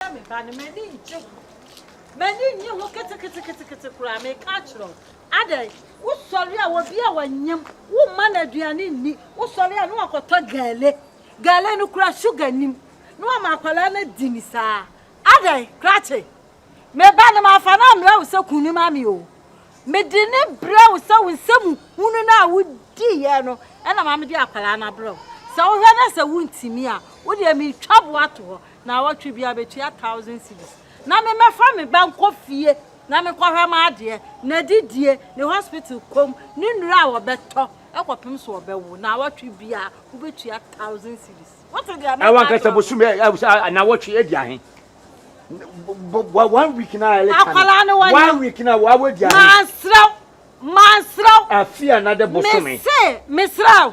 Woyɛ me ba no, m'ani ngye ho. M'ani nnye ho keteketekete koraa, meka akyerɛ wo. Adɛn? Wosɔre a, obi a wanyam, womma no aduane nni. Wosɔre a, na wakɔtɔ gɛle. Gɛle no koraa, sugar nnim. Na wama akwadaa no adi no saa. Adɛn? Krakye. Me ba no, mamfa no ammrɛ wo sɛ kun no ma me o. Mede no brɛ wo sɛ wo nsɛm hunu no a wodiiɛ no na ma mede akwadaa no abrɛ wo. Sɛ wohwɛ na sɛ wontumi a, wo deɛ metwa bo ato hɔ. Naawɔtwe biara metua thousand cedis na me mɛfa me ba nkɔ fie na me kɔhwɛ ma adeɛ, nadidie, ne hospital kɔm, ne nnuro a wɔbɛtɔ ɛkɔpem so ɔbɛwo, naawɔtwe biara wobɛtua thousand cedis. Wote deɛ mɛka wankasa bosom ɛ ɛ sɛ naawɔtwe adi ahe? Bɔ one week na ɛle ka akwadaa no wɔnyɛ one week na wɔawɔ adi ahe? Mansrɛw mansrɛw afia na de bosom ɛ mese mesrɛw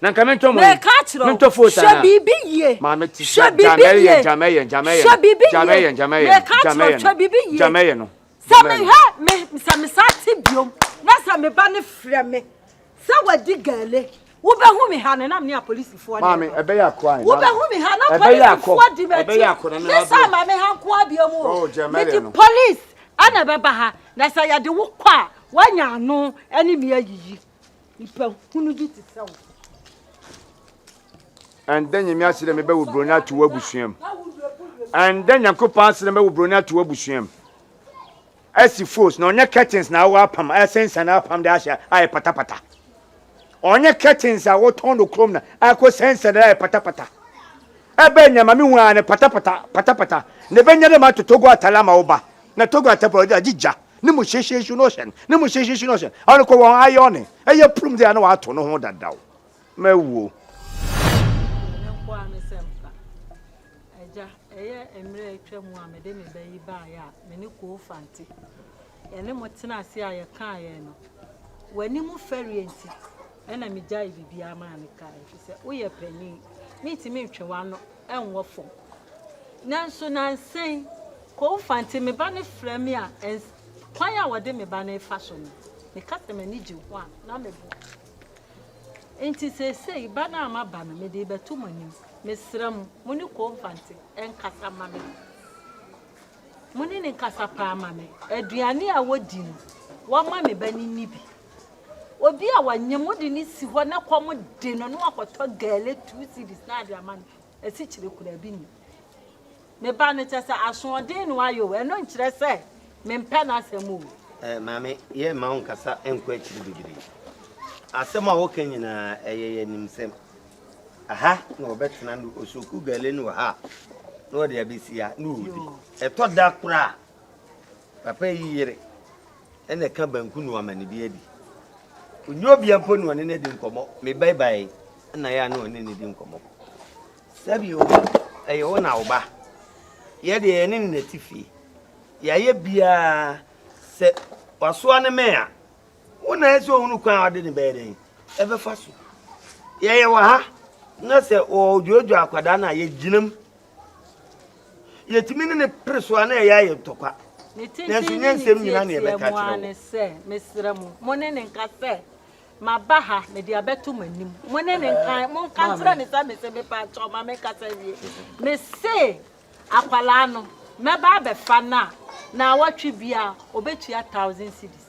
Na nka me ntɔ mo yi, me ntɔ fo saa na. Hwɛ biribi yie. Maame ti sɛ jamɛyɛ jamɛyɛ jamɛyɛ no jamɛyɛ jamɛyɛ no jamɛyɛ no jamɛyɛ no. Sɛ me hɛ me sɛ me sa te biom na sɛ me ba ne frɛ me sɛ wadi gaale wobɛhu me ha no nam ne apolisifoɔ ne maame ɛbɛyɛ akɔ ayi wobɛhu me ha na polisifoɔ di m'akyi ne saa ma me ha nko abiom o medi polisi ɛna ɛbɛba ha na sɛ yɛde wo kɔ a woanya ano ɛne me ayiyi. Nipahunu bi te sɛ wo. Ɛndɛ Nyame ase dɛ mebɛwo broni ato w'abusua mu. Ɛndɛ Nyankopɔn ase dɛ mɛwo broni ato w'abusua mu. Ɛsi fos na ɔnyɛ curtains na awɔ apam a ɛsensɛn na apam de ahyɛ a yɛ patapata. Ɔnyɛ curtains a wɔtɔn no kurom na akɔ sensɛn na yɛ patapata. Ɛbɛn nea ma mehu a ne patapata patapata na ɛbɛnya dɛ ma atɔ Togo atare ama wo ba na Togo atare pɔ agye gya. Ne mu hyehye su no hyɛ no. Ne mu hyehye su no hyɛ no. Ɔno kɔ wɔn ayɛ ɔne. Ɛyɛ prum de a na wato no ho dadaw. Mawuo. Ɛno nko ara ne sɛ mfa. Agya, ɛyɛ mmerɛ a atwa mu a mede me ba yi baeɛ a me ne Koo Fante yɛne mo tena ase a yɛkaeɛ no. W'anim fɛreɛ nti na megyaee biribiara maa no kaeɛ ɛfiri sɛ woyɛ panin. Mentumi ntwe w'ano. ɛnwɔ fam. Nanso nnansa yi, Koufante, me ba no frɛ me a, ɛns, kwan a wɔde me ba no refa so no, meka sɛ m'ani gye ho a, na meboa. Enti seesei, ba no a maba no, mede rebɛto mo anim. Mesrɛ mo, mo ne Koufante nkasa mma me. Mo ne no nkasa paa mma me. Aduane a wɔdi no, wɔmma me ba no nni bi. Obi a wanyem wode no si hɔ na kɔm de no na wakɔtɔ gɛle two cedis na ade ama no asikyire koraa bi ni. Me ba no kyɛ sɛ asoɔden na wayɛ o, ɛno nkyerɛ sɛ mempɛ n'asɛm o. Eh, maame, yɛremma wo nkasa nkɔ akyiri bebree. Asɛm a woka nyinaa, ɛyɛ yɛn animsɛm. Aha na wɔbɛtena no, osuoku gɛle no wɔ ha a, na wɔde abɛsi ha na wɔdi. Ɛtɔ da koraa a, Papa yi yere na ɛka banku no ama no bi adi. Ɔnni obia mpo na ɔne no adi nkɔmmɔ. Me ba bae yi na yɛ a na ɔne no di nkɔmmɔ. Sɛbio, ɛyɛ wo na wo ba. Yɛ deɛ yɛne no na ti fie. Yɛayɛ biara sɛ wasoa ne mɛn a, wo na ɛsɛ ɔhunu kwan a ɔde ne bɛyɛ dɛn ɛbɛfa so. Yɛyɛ wɔ ha na sɛ ɔdwoodwoo akwadaa no a yɛgyinam Yɛtumi ne no pere so a na ɛyɛ a yɛ ntɔkwa. Nanso nyɛ nsɛm nyina na yɛbɛka kyerɛ wo. Ne tenten ne ne nteateamu ara ne sɛ, Mesrɛ mo, mo ne no nka sɛ, Maba ha, mede abɛto mo anim. Mo ne no nka, monka nkyerɛ no sɛ mese, Mepakyɛw, ma menkasa nwie. Mese, Akwadaa no, mɛba abɛfa no a, naawɔtwe biara, ɔbɛtua thousand cedis.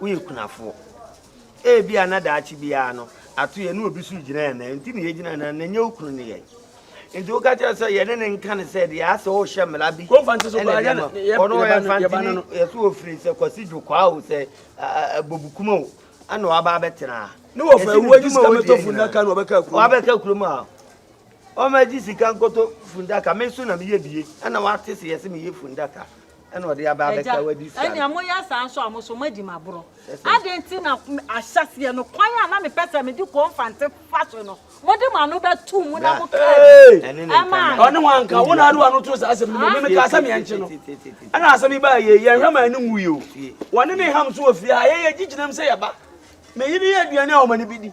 woyɛ kunafoɔ. Ebia na daakye biara no ato yɛ ne obi so gyina yɛn nan nti na yɛgyina nan na ɛnyɛ wo kunu ne yɛn nti woka kyerɛ sɛ yɛne ne nka ne sɛ deɛ asɛ wohyɛ mmara bi ɔno ɔyɛ mfantini yɛsɛ wɔfiri sɛ kwasi dwokwaa o sɛ bɔbukuma o ɛna waba abɛtena ne wɔfa awuo gye sika mɛtɔ fundaka na wɔbɛka kurom wɔabɛka kurom a ɔma gye sika nkɔtɔ fundaka me nso na meyɛ bie ɛna wate sɛ yɛsɛ meyɛ fundaka Ɛna ɔde aba abɛsɛ wadi sua no. Agya, ɛnea moyɛ saa nso a, mo nso moadi me aborɔ. Adɛn nti na ahyɛaseɛ no, kwan a na mepɛ sɛ mede kɔɔ mfante fa so no, mode mo ano bɛtoo mu na mokaa bi maa me? Ɔne wɔn anka, wo na wode w'ano too saa asɛm no mu. Me mekaa sɛ meɛnkye no. Ɛna asɛm yi baa yei, yɛanhwɛ ma yɛne wuui o. Wɔne me ham nso wɔ fie ha. Yɛn, yɛgye gyinam sɛ yɛba. Me yere yɛ aduane a wɔn ani bɛdi.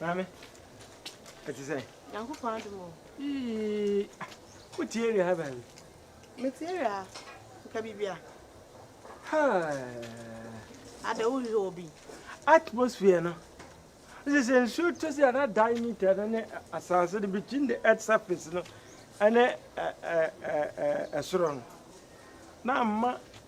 Maame, ɛte sɛ? Nyankopɔn adom o. Yii, wotie awia ha baabi? Metie awia ha, nka biribi a. Ada wohwehwɛ wɔ bi. Atmosphere no. Sɛ sɛ nsuo tɔ si a na diameter no ne asase no between the earth surface no ɛne ɛsoro no. Na ama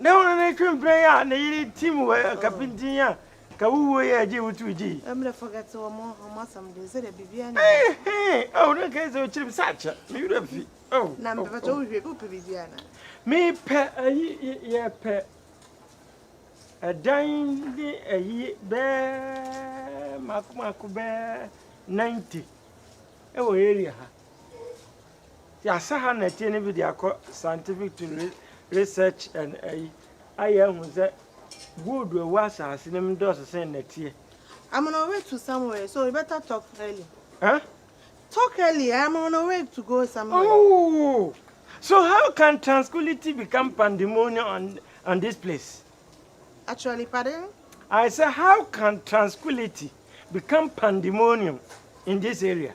Ne ho ne twe mprɛn a ne yere tim wɔ ka pintinn a ka wo wuo yɛ gye wotu gye. Eehee oh na nka ɛsɛ ɔkyerɛ mi sɛ akyɛ me wura fi oh. Na mpɛpɛ tɔ wohwɛ bi wopɛ biribi ana. Me pɛ ayi yɛ pɛ ɛdan ne ayi bɛɛ mako mako bɛɛ 90 ɛwɔ area ha. Yasa ha na ɛteɛ no bi de akɔ scientific to research and ayi ayɛ ahu sɛ gold a ɛwɔ asase no mu dɔɔso sɛn na ɛteɛ. I'm on a way to somewhere so you better talk early. Huh? Talk early, I'm on a way to go somewhere. Oh! So how can tranquility become pandemonium on, on this place? Actually, pardon? I said, how can tranquility become pandemonium in this area?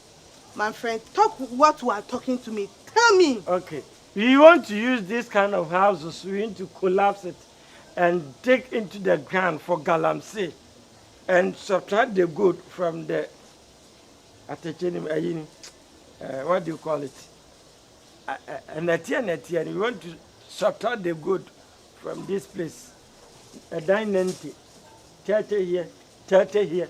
my friend talk what u are talking to me tell me. Ok we want to use this kind of houses we want to collapse it and dig into the ground for galamsey and subtract the gold from the atɛkyɛ nim ayi ni eh, what do you call it ɛnɛteɛ nɛteɛ ni we want to subtract the gold from this place ɛdan nante tɛɛtɛ here tɛɛtɛ here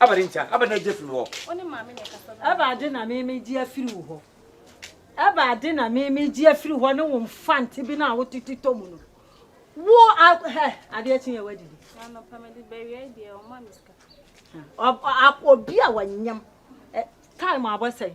Awurade nkyɛn. Awurade na egye firi me hɔ. Wo ne maame na ɛkasa bɛn. Awurade na memegye afiri wo hɔ. Awurade na memegye afiri hɔ ne wo mfante bi no a wotete tɔ mu no. Wo a hɛ adeɛ kye yɛ wadidi. Anɔpa mede bɛwia deɛ ɔma me sika. Obi a wanyam time abɔ sɛn.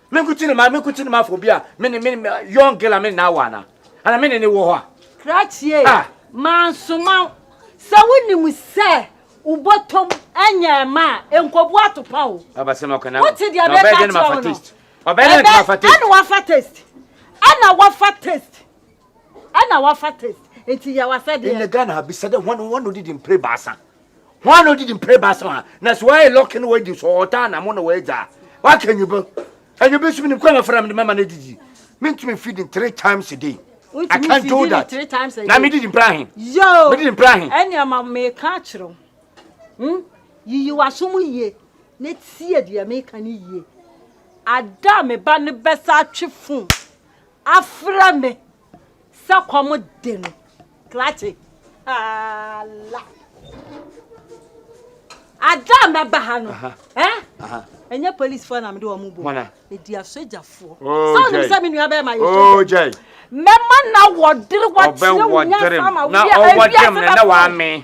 Me nko ti na ma me nko ti na ma fo bi a me ne me young girl a me na awa na ana me ne ne wɔ hɔ a. Krakyie ah. mansoma sɛ wonim sɛ wobɔtɔm ɛnyɛ ɛma a nkɔbu atopa o. Abasɛm ɔkɔ na wote deɛ bɛka kyerɛ wo no ɔbɛyɛ dɛn na wafa taste ɛna wafa taste ɛna wafa taste ɛna wafa taste nti yɛ wasɛ deɛ. In the Ghana ha bisa dɛ wɔn wɔn odidi mpere baasa. hwan na odidi mpere ba so a na so ayɛ lɔki na wadi so ɔtaa na mo na wɔagya waka nyubo anyubo so menim kwan na fara me de mama no adidi mentumi feed in three times a day I can't do that three times a day na medidi mpere ahe yo medidi mpere ahe ɛne ama meka akyerɛ hmm yiyi waso mu yie na tie deɛ meka ne yie ada me ba ne bɛsa atwe fon afrɛ me Sɛ kɔm de no, klakye ala. Ada a mɛba ha no, ɛnyɛ polisifoɔ na mede wɔn bɔ. Ɛdi asogyafoɔ. Oh, sɛ wonim sɛ me nua bɛrima yɛ oh, sogya. Mɛma na wɔdere wakyerɛ wo nyansa ma woyɛ awiase bɛfoɔ.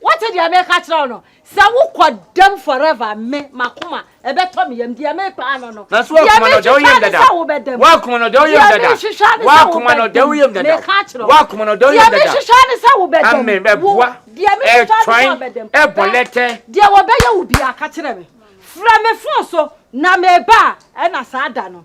Wote deɛ meka kyerɛ wo no? Sɛ wokɔ dɛm forever me, m'akoma, ɛbɛtɔ me yam. Deɛ mepa ano no, deɛ mehwehwɛ ne sɛ wobɛda mu. Deɛ mehwehwɛ ne sɛ wobɛda mu. Meka akyerɛ wo. Deɛ mehwehwɛ ne sɛ wobɛda mu. Wo, deɛ mehwehwɛ ne sɛ wobɛda mu. Bɛ, deɛ wɔbɛyɛ wo biara, ka kyerɛ me. Frɛ me fon so, na meba a, ɛna saa da no.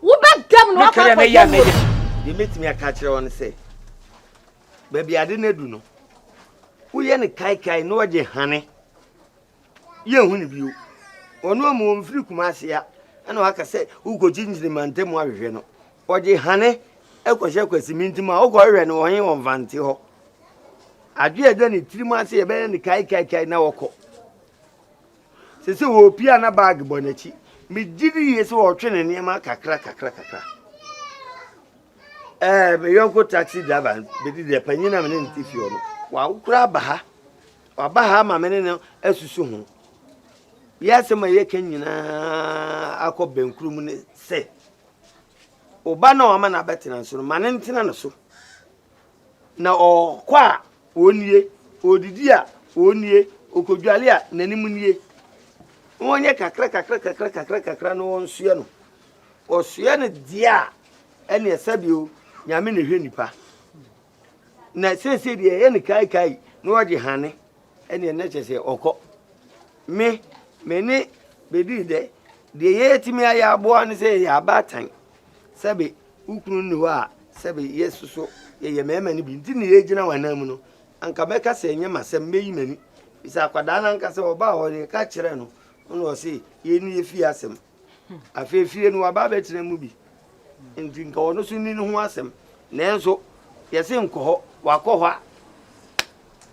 wobɛda mu na wakɔ akɔyɛ wɔ mu. deɛ mɛtumi aka akyerɛ wɔ no sɛ baabi ade no adu no woyɛ no kaekae na ɔgye hane yɛhu no bio ɔno amu ɔmfiri kuma ase a ɛna waka sɛ wokɔkyinkyini mantam ahwehwɛ no ɔgye hane ɛkɔhyɛ kwasimi ntim a wokɔhwehwɛ no ɔhe ɔmfante hɔ adwe ɛda ne tirim ase yɛbɛyɛ no kaekaekae na wɔkɔ Seesei ɔrepia na bag bɔ n'akyi. Megye di yie sɛ ɔretwe ne nneɛma kakra kakra kakra. Ɛɛ me yɔnko taxi driver bɛdi dɛ panyin a me ne ne te fie hɔ no wakora aba ha waba ha ama me ne no asusu ho yɛ asɛm a yɛka nyinaa akɔ bɛnkuro mu ne sɛ ɔba no a ɔma no abɛtena nso no ma no ntena no so Na ɔkɔ a, ɔnnie, ɔdidi a, ɔnnie, ɔkɔdwale a, n'anim nnie. Na wɔnyɛ kakra kakra kakra kakra kakra na wɔnsoɛ no. Wɔsoɛ no deɛ a, ɛneɛ sɛdeɛ o, Nyame na ɛhwɛ nipa. Na seesei deɛ ɛyɛ no kaekae na wɔgye hane, ɛneɛ na kyerɛ sɛ ɔkɔ. Me, me ne bɛdii dɛ, deɛ yɛtumi ayɛ aboa ne sɛ yɛyɛ abaatan, sɛbe Wo kunu nni hɔ a sɛbe yɛsu so yɛyɛ mmarima no bi nti na yɛgyina wɔn anan mu no, anka mɛka sɛ ɛnyɛ m'asɛm, mɛyi m'ani. Bisa akwadaa no ankasa ɔbaa hɔ no, yɛka kyerɛ no, ɔna ɔse, yei ne yɛfie asɛm. Afei fie no waba abɛtena mu bi, nti nka ɔno so nni ne ho asɛm. Nanso yɛse nkɔ hɔ, wakɔ hɔ a.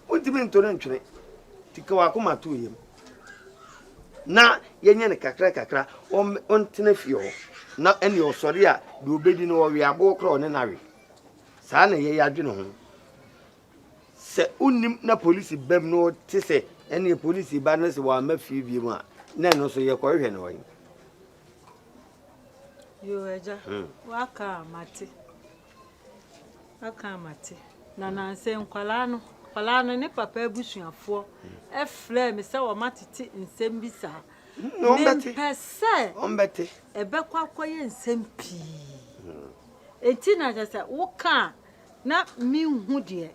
Wontumi nto no ntwene nti ka w'akoma to yam na yɛnyɛ no kakra kakra ɔntena fie hɔ na ɛne ɔsɔre a deɛ ɔbɛdi no ɔwe aboɔ korɔ ɔne no awe saa na yɛyɛ adwene ho sɛ wonim na polisi bam no te sɛ ɛne polisi ba no sɛ wɔama fie bie mu a na ɛno nso yɛkɔhwehwɛ no ɔyi yoo agya hmm. waka a mate Aka a mate. Na nansɛ nkwadaa no, akwadaa no ne papa abusuafoɔ frɛɛ me sɛ wɔatete nsɛm bi saa. Mempɛ sɛ ɛbɛkɔ akɔyɛ nsɛm pii. Enti na kyɛ sɛ woka a na menhu deɛ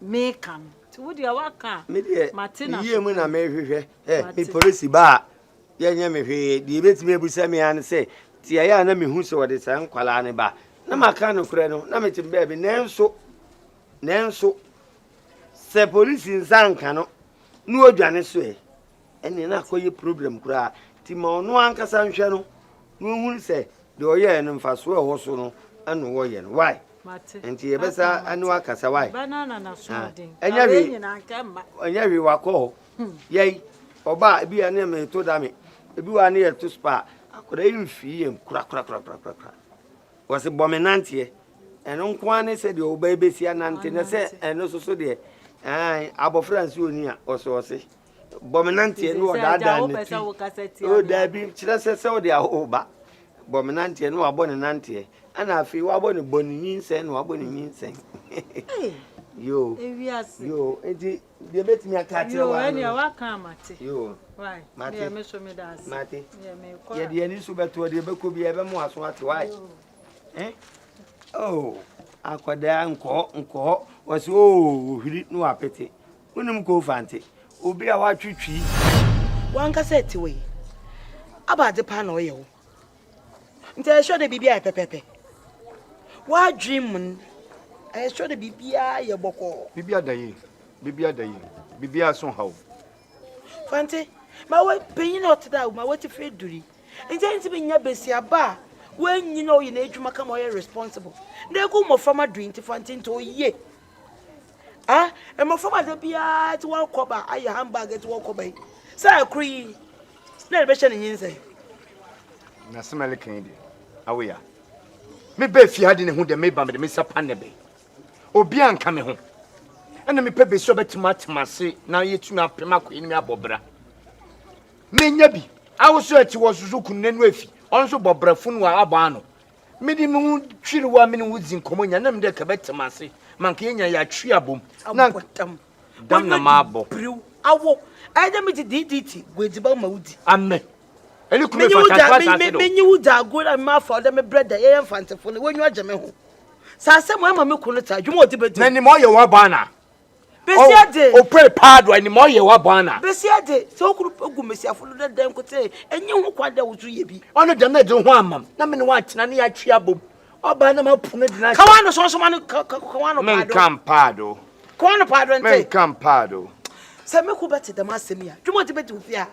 meka no. Nti wo deɛ woaka a mate na so. Medeɛ meyie mu na mehwehwɛ. Ɛ me polisi baa. yɛnyɛ me hwee. Deɛ ɛbɛtumi abisa me ara ne sɛ, tiaeɛ a na mehu sɛ wɔde saa nkwadaa no ba, na maka nokorɛ no, na mete baabi. Nanso, nanso, sɛ polisi nsa nka no na ɔdwane so ɛ, ɛnneɛ na akɔyɛ problem koraa. Nti ma ɔno ankasa nhwɛ no na ɔhunu sɛ deɛ ɔyɛɛ no mfasoɔ a ɛwɔ so no ɛna wɔyɛ no. Why? Nti yɛbɛsa ɛne wakasa. Why? Ɛnyɛ hwee, ɛnyɛ hwee wakɔ hɔ. Yɛi, ɔba a, ebi a ne me to da me, ebi wɔ a ne yɛ to spa a, akwadaa yi mfii yɛm korakorakorakorakora. Wɔse bɔ me nanteɛ. Ɛno nko ara ne sɛ deɛ ɔba yi bɛsi anante na sɛ ɛno soso deɛ ɛn abɔfra nsi oni a ɔse ɔse bɔ me nanteɛ ne ɔdaadaa ne ti. O daabi kyerɛ sɛ sɛ ɔde aho ba bɔ me nanteɛ ne wabɔ ne nanteɛ ɛna afei wabɔ ne bɔ ne nyinsɛn na wabɔ ne nyinsɛn. Yoo yoo nti Deɛ mɛtumi aka akyerɛ wo ano no. Yoo, ɛnneɛ waka a mate. Yoo, mate. Deɛ me so meda ase. Mate. Deɛ mekɔ a. Yɛde yɛn ani so bɛtoɔ deɛ ɛbɛkɔ biara ɛbɛmo aso ate wae. Eh? Oh, akwadaa nkɔɔ nkɔɔ wɔsi oo oh, ohwiri na wapete. Wonim koo fante. Obi a watwetwi. Wankasa ɛte wɔ yi. Abaade paa na ɔyɛ wo. nti ɛyɛ sure dɛ biribi ayɛ pɛpɛɛpɛ. W'adwen mu no, ɛyɛ sure dɛ biribiara yɛ bɔkɔɔ. Biribiara da yie, biribiara da yie, biribiara so nhaw wo. Fante, ma wo panyin a ɔte dɛ awo, ma w'atifire aduri. Nti ɛyɛ nti menya besiaba a w'anyin a ɔyɛ n'adwuma kama ɔyɛ responsible. Na egu mmɔframma dui nti Fante nti oye. ah mmɔfra ma sɛ biara te wɔn kɔba ayɛ handbag te wɔn kɔba yi sɛ ɛkoro yi na ɛde bɛhyɛ ne nyinsɛn. na sɛ mɛle kan de awo ya meba efie ha de ne ho dɛ meba mede me nsa pa ne be obi anka me ho ɛna mepɛ besi ɔbɛtumi atema ase na yɛtumi apem akɔyɛ ne mi abɔ bra menya bi awo so ɛte wɔ soso kunu n'anu afi ɔno nso bɔ brafo no a abɔ ano Mede me ho twiri wo a me ne wo dzi nkɔmmɔ nyina na mede nka bɛte me ase ma nka yɛn nyina yɛatwe abom na ntam dam na maabɔ. Biriw awo ɛyɛ dɛ medze diidiiti gu edziban ma wodzi. Amɛ ɛne kume fa tantoa saase do. Menye wo dza ago na mema afa ɔdɛ me brɛ dɛ yɛyɛ mfantsefo no w'enyiwa gye me ho. Sɛ asɛm a ɛma me ko no tse a dwuma ɔdze bedzi. Na nim ɔyɛ wɔabɔ ana Besiade. O opere paa do anim ɔyɛ wa bɔ ana. Besiade sɛ okuru pɛ gu mesiafo do dɛ dɛn nkotee enye ho kwan dɛ woso yɛ bi. Ɔno dɛm na edze wo ho amam na me ne wo atsena na yɛatwe abom. Ɔbaa na mapu no dze no ahyɛ. Ka w'ano sɔnsɔma no ka ka ka w'ano paa do. Menka mpaa do. Ka w'ano paa do nte. Menka mpaa do. Sɛ me kun bɛte dɛm asɛm yi a, dwuma ɔdze bedzi wo fie a.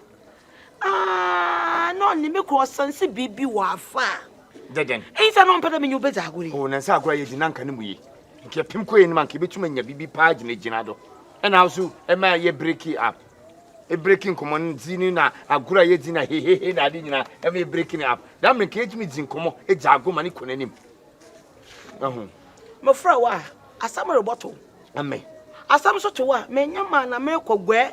Ah, na ɔne me kɔ ɔsan si biribi wɔ afa. Dɛdɛn? Eyi sɛ na ɔmpɛ dɛ menye wobɛdzi agor yi. O, na nsɛ agor a yɛdzi na nka no mu ye. Nka yɛpem kɔe no ma nka yɛbɛtum anya biribi paa gyinagyina do. Ɛna awo so ɛma yɛ breki up. Ebreki nkɔmmɔ no dzi no na agor a yɛdzi na hehehe na ade nyinaa ɛma yɛ breki no up. Dɛm mmerɛ nka yɛtumi dzi nkɔmmɔ, gya agor ma no kɔ n'anim. Wahu? Mefrɛ wo a, asɛm rebɔto. Ame. Asɛm nso to wo a, menya maa na merekɔ guɛ.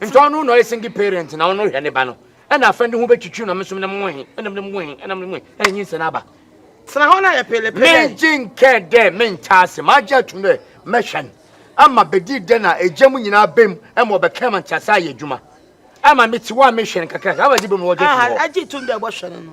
Nti ɔno na ɔyɛ single parent na ɔno hwɛ ne ba no ɛna afɛn de ho bɛtwitwi na mesom na mo he ɛna mo mo he ɛna mo mo ɛna nyi nsɛn aba. Tena hɔ na yɛ pele pele. Me gye nkɛ dɛ me nkyɛ ase ma agye atum dɛ mɛ hwɛ no ama bɛdi dɛ na egya mu nyinaa bɛ mu ɛma ɔbɛ kɛn ma nkyɛ ase ayɛ adwuma ama me ti hɔ a me hwɛ no kakra kakra ama bɛdi bɛ mu ɔgye atum hɔ. Aha, agye atum dɛ ɔbɔ hwɛ no no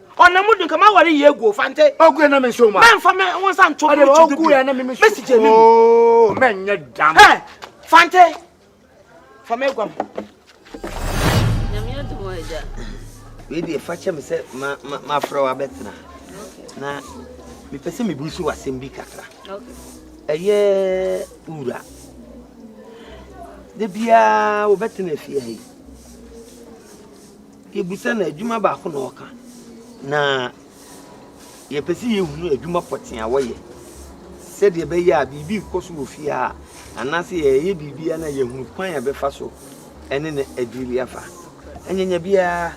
Ɔnam mu dunka ma wari yie guo fante. Ogu yɛ na mi nso ma. Mɛ nfa mɛ wɔn san to mu tudu bi. Mɛ si jɛ mi mu. Oo mɛ n yɛ dam. Hɛ fante fa mɛ guam. Nyamiya dumo ɛja. Wei deɛ fa kyɛ me sɛ ma ma ma afrɛ wa bɛtena na mepɛ sɛ mebu so wasɛm bi kakra ɛyɛ wura da biara wobɛtena afie ha yi Yebisa no adwuma baako na ɔka, na yɛpɛ sɛ yehunu adwuma pɔtee a wɔyɛ sɛdeɛ ɛbɛyɛ a biribi rekɔ so wɔ fie a anaasɛ yɛyɛ biribi a na yɛahunu kwan a ɛbɛfa so ɛne no adwiri afa. Anyanya biara,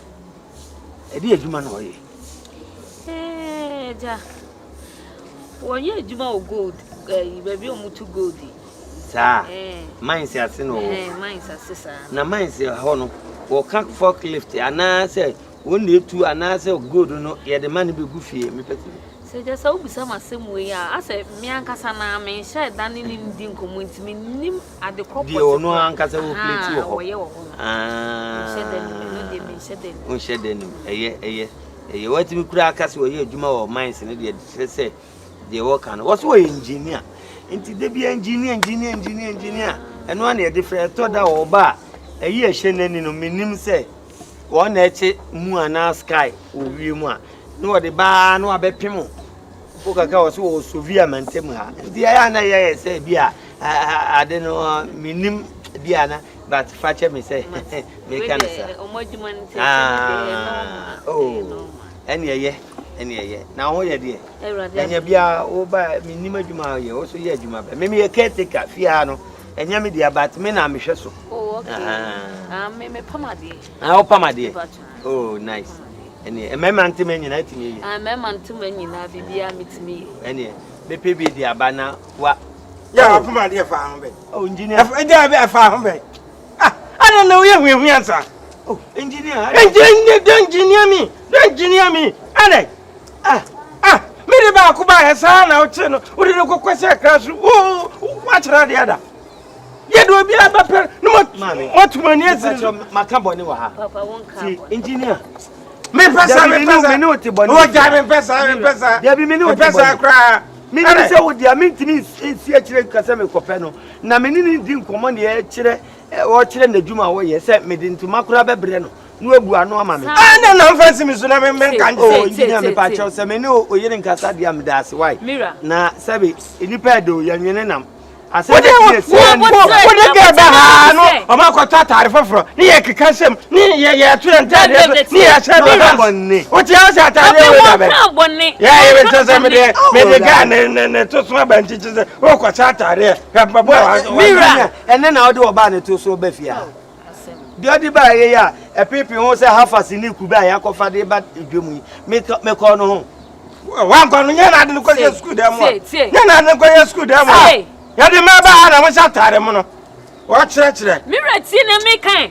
ɛde adwuma na ɔyɛ. Ɛɛ, gya. Wɔnyɛ adwuma wɔ gold, ɛyi, baabi a wɔtu gold yi. Saa mines ase na ɔwɔ. Ɛɛ mines ase saa. Na mines hɔ no, wɔka forklift anaasɛ wɔn na etu anaasɛ gold no yɛde ma no bɛgu fie mepɛ sɛ. Sɛ gya sɛ wobisa m asɛm wei a, asɛ me ankasa na menhyɛɛ da ne ne di nkɔmmɔ nti mennim ade korɔ pɔte deɛ ɔno ankasa wɔ plate wɔ hɔ wɔyɛ wɔ hɔ no menhyɛ da nim ɛno deɛ menhyɛ da nim wonhyɛ da nim ɛyɛ ɛyɛ ɛyɛ watumi kura aka sɛ wɔyɛ adwuma wɔ mines no deɛ kyerɛ sɛ deɛ wɔka no wɔso wɔyɛ engineer nti da bi engineer engineer engineer engineer ɛno ara na yɛde frɛ ɛtɔ da wɔ ɔba a ɛyi ɛhyɛ n'ani no menim sɛ wɔn na ɛkye mu anaa sky wɔ wie mu a na wɔde baa na wabɛpem o wo kaka wɔ so wɔ sovia mantam ha nti ɛyɛ a na yɛyɛ sɛ bi a ade no menim bi a na but fakyɛ me sɛ meka no saa ah, oh. Ɛne ɛyɛ, ɛne ɛyɛ. Na ho yɛ deɛ? Awurade Ɛnyɛ bia wo ba menim adwuma a yɛ wo so yɛ adwuma bɛ. Me meyɛ caretaker fie ha no. Ɛnyɛ me deɛ but me na mehwɛ so. Oh okay. Ah me me pam adeɛ. Ah wo pam adeɛ. Oh nice. Ɛne mmarima ntoma nyinaa tumi yɛ. Ah mmarima ntoma nyinaa bibia metumi yɛ. Ɛne mepɛ bi de aba na wa. Ya pam adeɛ fa ho bɛ. Oh engineer. Ɛgya bɛ fa ho bɛ. Ah, ana na woyɛ huahua nsa. Oh, engineer. Engineer, don't engineer me. Don't engineer me. Ana. Ah, ah, me de baako ba yɛ saa na wokyerɛ no. Wode no kɔkɔ sɛ akra so. Oh, wakyerɛ adeɛ da. Yɛ de obi abɛpɛ no moatu m'ani asiri so. Maka bɔne wɔ ha. Papa, wonka bɔne. Engineer. Me pesa, me pesa. Me ne wote bɔne. Wo gya me pesa, me pesa. Dabi me ne wote bɔne. Me pesa koraa. Me ne sɛ wo dia, me ntimi nsi akyire nkasɛ me kɔpɛ no. Na me ne no redi nkɔmmɔ nea ɛkyerɛ ɔrekyerɛ n'adwuma a ɔyɛ sɛ mede ntoma koraa bɛbrɛ no na wabua ano ama me. Ah, na na mfa nsi me so na me me nka nkyerɛ o engineer me pa kyɛw sɛ me ne o yere nkasa deɛ meda ase why na sɛbe nipa ɛde o yɛnwene nam asɛm bi yɛ si ɛni wo de gɛ bɛ ha no ɔmo akɔtɔ ataare foforɔ ne yɛ keka nsɛm ne yɛ yɛ to yɛ ntaade so ne yɛ ahyɛ no ha bɔnne o ti ase ataare yɛ wɔ dabɛ yɛ yɛ bɛ kyɛ sɛ me de me de gɛ ne ne ne to so abankyekye sɛ O kɔkyɛ ataadeɛ hwɛ mpaboa a wahyɛ. Me wura ɛnɛ na ɔde ɔbaa ne to so ba fie ha. Deɛ ɔde baa yei a ɛpeepee ho sɛ hafase ne kube a yɛakɔfa de ba dwam yi mekɔɔ no ho. Wankɔ no nyɛ na ade no kɔyɛ sukuu dan mu a nyɛ na ade no kɔyɛ sukuu dan mu a yɛde mmaa baa ha na mohyɛ ataade mono wɔkyerɛkyerɛ. Me wura tie na meka ɛ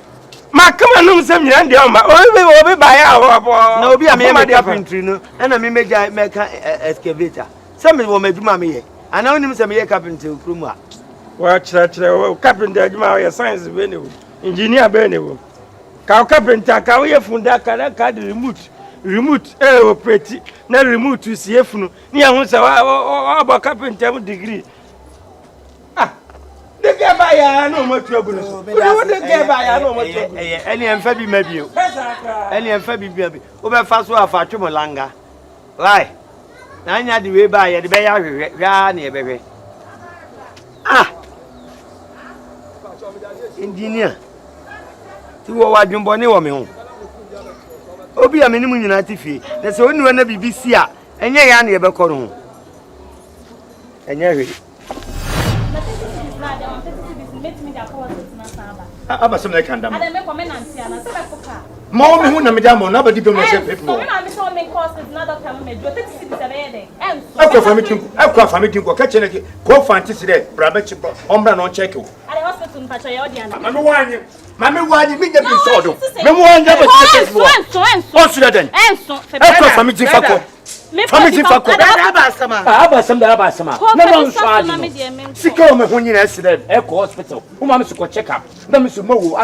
M'akoma nom sɛ nnuan deɛ ɔma obi obi baeɛ a ɔbɔ. Na obi a meyɛ me carpentry no ɛna me mɛgya mɛka excavator sɛ me wɔ m'adwuma meyɛ anaa wonim sɛ meyɛ carpentry wɔ kurom a. Wɔkyerɛkyerɛ wo carpenter adwuma woyɛ science bɛɛ ne wom engineer bɛɛ ne wom ka wo carpenter ka woyɛ funu da ka na ka de remote remote ɛɛ operate na remote sie funu ne yɛn ho sɛ wɔabɔ carpenter mu degree. Wode gɛ ba yɛ a na ɔmo atu agu ne so. Wode gɛ ba yɛ a na ɔmo atu agu ne so. Ɛne ɛmfa bi ma bio. Ɛne ɛmfa bi bia bi. Wobɛfa so afa atwe mo langa. Why? Na anya de wei ba yɛde bɛyɛ ahwehwɛ. Hwɛ ara na yɛbɛhwɛ. Ah! Engineer. Ti wɔ wɔ adwembɔne wɔ me ho. Obi a me ne mu nyinaa te fie. Na sɛ oniwa na biribi si a, ɛnyɛ yɛ a na yɛbɛkɔ no ho. Ɛnyɛ hwee. aba sɛ mɛka nda ma wo me ho na mede ama no abɛdi dwom na sɛ pep mɔ ɛkɔ afa me ti nkɔ ɛkɔ afa me ti nkɔ kɛkyɛ na kɔ fa nte se dɛ bra bɛkye bɔ ɔmbra na ɔnkyɛke wo mame wanye mame wanye menya bi nsɔɔ do meme wanye abɛsɛ pep mɔ ɔnso dɛ dɛn ɛkɔ afa me ti fa kɔ fa me ti fa kɔ. ɛda aba asɛm a. Ah, aba asɛm da aba asɛm a. na ma nsɔ adi no. sika wɔ me ho nyinaa si dɛ ɛkɔ hospital woma me so kɔ check up na me so ma wo.